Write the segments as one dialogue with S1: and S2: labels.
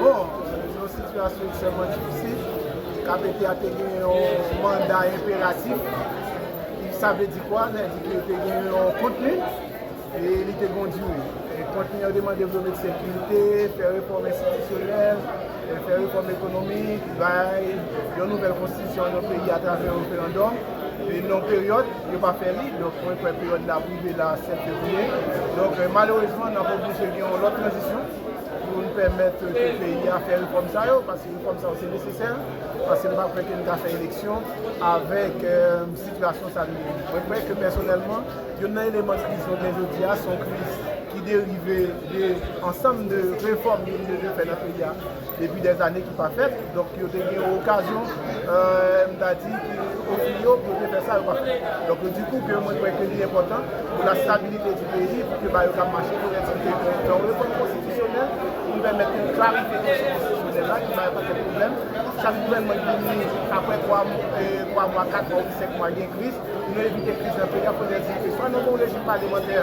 S1: Bon, se yon sitiyasyon ekstrèmman difisil. KPT a te gen yon manda enperatif. Sa vle di kwa? Sa vle di ke li te gen yon kontni e li te gen yon dire. E kontni an te mande pou yo met sekirite, fè refòm enstitisyonèl, fè refòm ekonomik, bay yon nouvèl konstitisyon an yon peyi atravè referandòm. E nan peryòd, yo pa fè li. Donk mwen kwè peryòd la ap rive la 7 fevriye. Donk malerezman, n ap oblije gen yon lòt tranzisyon. pou nou pèmèt ke peyi a fè refòm sa yo, paske refòm sa yo se nesesè, paske nou pa kwè ke nou ka fè eleksyon avèk sitiyasyon sa nou ye. Mwen kwè ke pèsonèlman, youn nan eleman kriz nou gen jodi a, se yon kriz ki derive de ansanm de refòm yo te dwe fè nan peyi a depi dèzane ki pa fèt. Donk yo te gen yon okazyon, m ta di, ki ofri yo pou yo te fè sa yo pa fè. Donk di kou ke mwen kwè ke li enpòtan pou la stabilite di peyi, pou ke bagay yo ka mache korèk sou teren an. Yon refòm konstitisyonèl pou pèmèt yon klarite nan chèn konstitisyonèl la ki bay anpil pwoblèm. Chak gouvènman ki vini apre 3 mwa, 4 mwa oubyen 5 mwa gen kriz. Pou nou evite kriz nan peyi a, fòk nou di ke swa nou gen yon rejim palemantè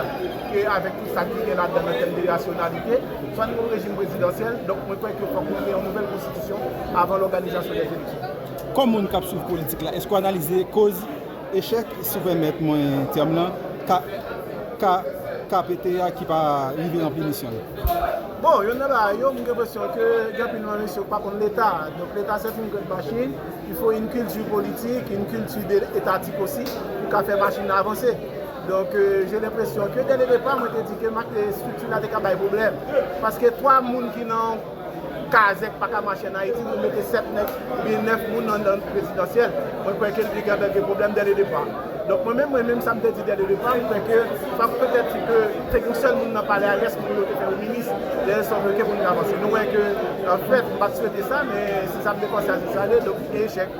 S1: ke avèk tout sa ki gen ladan an tèm de rasyonalite, Sa nou yon rejim prezidansyèl, donk mwen kwè ke fòk nou gen yon nouvèl konstitisyon avan lòganizasyon dè eleksyon. Kòm moun k ap swiv
S2: politik la, èske w analize koz echèk, si w pèmèt mwen tèm lan, KKPT a ki pa rive ranpli misyon l? Bon, yonn
S1: nan bagay yo, m gen enpresyon ke gen anpil nan mesye yo ki pa konn Leta. Donk Leta se yon grenn machin, il faut une culture politique, une culture etatik osi pou ka fè machin nan avanse. Donk je lenpresyon ke dè le depa mwen te di ke mak te estrikti la te ka bay pwoblèm. Paske 3 moun ki nan yon kazèk pa ka mache an Ayiti, nou mete 7 nèg ou byen 9 moun nan nan prezidansyèl. Mwen kwè ke li te ka bay de pwoblèm dè le depa. Donk mwen menm, mwen menm sa m te di dè le depa, mwen kwè ke sa pou petèt si ke te gen yon sèl moun nan palè a, rès moun yo te fè yo minis. Dè le sòt ok pou nou te avanse. Nou wè ke an fèt m pa t swete sa men se sa m te panse a se sa l ye donk echèk.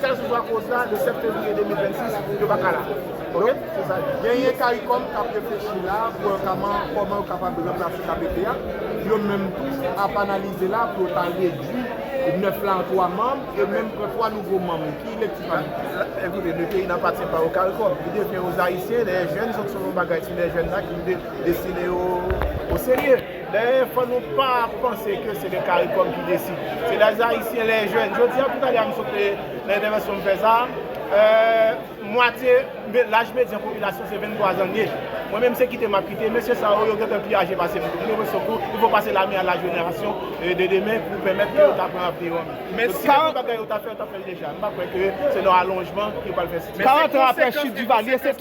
S1: Kèlseswa koz la, le 7 fevriye 2026, yo pa ka la. Ok? Se sa l di. Genyen caricom
S3: k ap reflechi la pou yo ka man kòman yo kapab ranplase kpt a. Yo menm tou ap analize la pou yo ta redui 9 la an 3 manm e menm pran 3 nouvo manm. Ki lekti pa nou fè? Ekoute, le peyi
S1: n'appartient pas au caricom. Li devyen aux Haïtiens, les jeunes, se yon bagay ti les jeunes la ki pou te destine yo au sérieux. Dayè fò nou pa panse ke se le Caricom ki deside. Se les Haïtiens, les jeunes. Jodi a pou talè a m sot fè nan entèvansyon m fè sa a, mwatye laj medyan popilasyon se 23 zannye. Mwen menm se kite m ap kite. Mesye sa yo, yo gen tan pi aje pase m. Mwen mwen sekou, il faut pase la main à la génération de demain pou pèmèt ke yo ta pran avni yo an men. Donk si gen yon bagay yo ta fè, yo ta fè l deja. M pa kwè ke se nan alonjman yo pral fè sa. 40 ans aprè chit
S4: Duvalier, se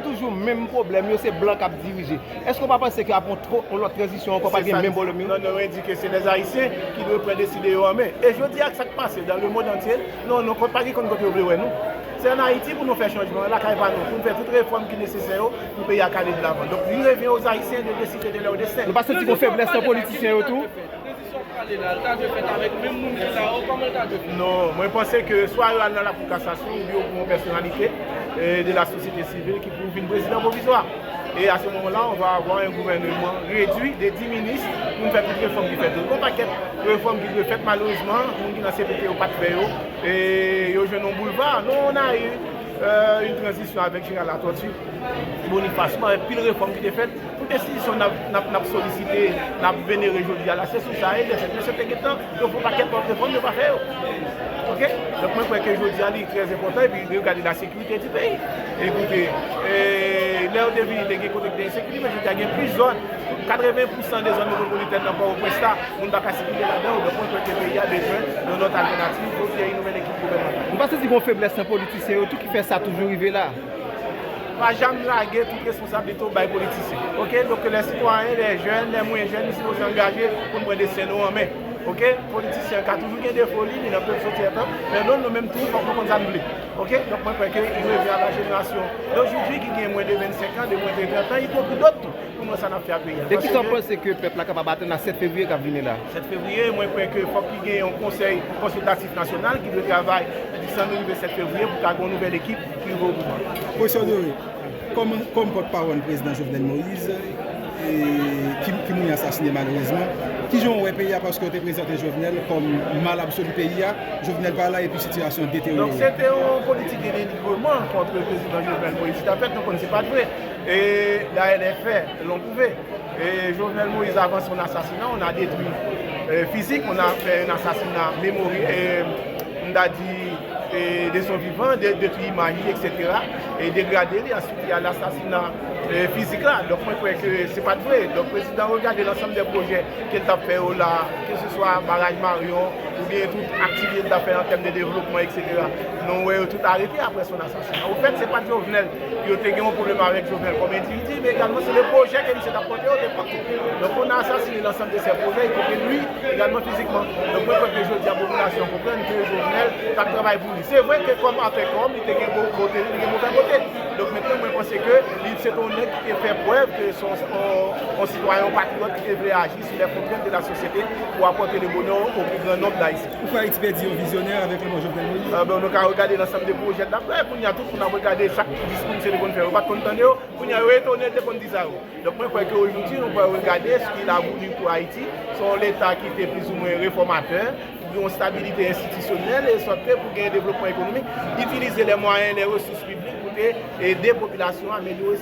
S4: toujou menm pwoblèm yo, se blan k ap dirije. Èske ou pa panse ke ap gen yon lòt tranzisyon ankò, pa gen menm volum yo? Non, nou endike se lè
S1: Ayisyen ki dwe pran deside yo an men. E jodi ak sa k pase dan le mond antye, non, nou pa gen konn kote yo vle wè nou. Se an Ayiti pou nou fè chanjman an, lakay pa nou, pou n fè tout refòm ki nesesè yo pou peyi a k ale de lavan. Donk, li revyen o Ayisyen de deside de lèr desten. Nou pa santi gon feblès nan
S4: politisyen yo tou? Sa wap pale la, li ta dwe fèt avèk menm moun
S1: ki la yo, kòman li ta dwe fèt? Non, mwen panse ke swa yo al nan lakou kasasyon oubyen yo pran yon pèsonalite de la sosyete sivil ki pou vin prezidan pwovizwa. E a se moman la, on va avoir un gouvernement réduit de 10 minis pou nou fè tout refòm ki fèt yo. Gon pakèt refòm ki dwe fèt, malerezman, moun ki nan CPT yo pat fè yo, e yo jwenn yon boulva. Non, on a eu une transition avec General Latortue, Boniface, avèk pil refòm ki te fèt. Pou desizyon n ap solisite, n ap venere jodi a la, se sou sa e de fèt. Mesye te gen tan, yo fè yon pakèt lòt refòm, yo pa fè yo. Ok? Donk mwen kwè ke jodi a li trè enpòtan epi lè yo gade lasekirite di peyi. Ekoute, lè yo te vini te gen kote ki te ensekirite men jodi a gen plis zòn, 80 pousan de zòn metwopolitèn nan Pòtoprens la, moun pa ka sikile ladan yo. Donk mwen kwè ke peyi a bezwen yon lòt altènativ, yon nouvèl ekip gouvènmantal. Ou pa santi gen yon feblès nan
S4: politisyen yo tou ki fè sa toujou rive la? Pa
S1: janm lage tout responsabilite w bay politisyen ok donk ke lè sitwayen, lè jèn, lè mwen jèn nou sipoze angaje pou n pran desten nou an men ok politisyen ka toujou gen defo li, li nan pèp soti etan men non nou menm tou fòk nou konn sa n vle ok donk mwen kwè ke li revni a la jenerasyon dojoudwi ki gen mwen de 25 an de mwen de 30 an ipokri dòt tou pou n wè sa n ap fè ak peyi a paske ke. E kisa w panse ke
S4: pèp la kapab atann a 7 fevriye k ap vini la? 7 fevriye mwen kwè
S1: ke fòk ki gen yon konsèy konsiltatif nasyonal ki dwe travay di san nou rive 7 fevriye pou ka gen yon nouvèl ekip. Pwofesè Honoré,
S2: kòm pòt pawòl prezidan Jovenel Moïse ki mouri asasine malerezman, ki jan ou wè peyi a paske yo te prezante Jovenel kòm mal absoli peyi a, Jovenel pa la epi sitiyasyon an deteryore. Donk se te yon politik
S1: de denigrement kontre prezidan Jovenel Moïse ki t ap fèt, nou konnen se pa t vre. E dayè lè fè lon pwouve. E Jovenel Moïse avan son asasina on a detwi fizik, on a fè un assassinat memoriel. m ta di, de son vivan, detwi imaj li eksetera, e degrade li, answit li al asasina fizik la. Donk mwen kwè ke se pa t vre. Donk prezidan regade lansanm de pwojè ke l t ap fè yo la, ke se swa baraj Marion, oubyen tout aktivite l t ap fè an tèm de devlopman eksetera. Nou wè yo tout arete aprè son asasina. Au fait, se pat Jovenel yo te gen yon pwoblèm avèk Jovenel kòm endividi, men egalman se le pwojè ke misye tap pòte yo te pòte. Donk on a assassiné l'ensemble de ses projets, y compris lui egalman fizikman. Donk mwen kwè ke jodi a popilasyon an konprann ke Jovenel tap travay pou li. Se vre ke kòm afè kòm li te gen bon kote li, li te gen movè kote li. Donk mentnan mwen panse ke li se te yon nèg ki te fè prèv ke se yon sitwayen, yon patriyòt ki te vle aji sou les contraintes de la société pou apòte le bonheur au plus grand nombre d'Haïtiens. Ou kwè Ayiti pèdi yon vizyonè
S2: avèk lanmò Jovenel Moïse? Bon, nou ka regade nan sanm
S1: de pwojè l ap fè. Kounye a tout moun ap regade chak diskou misye te konn fè yo pat konn tande yo. Kounye a yo etone l te konn di sa yo. Donk mwen kwè ke ojoudyi nou pral regade s ki la voulu pou Ayiti. Se yon leta ki te plis ou mwen refòmatè, pou gen yon stabilite enstitisyonèl, e sòt ke pou gen devlopman ekonomik, itilize lè mwayen, lè resous piblik pou te ede popilasyon an amelyore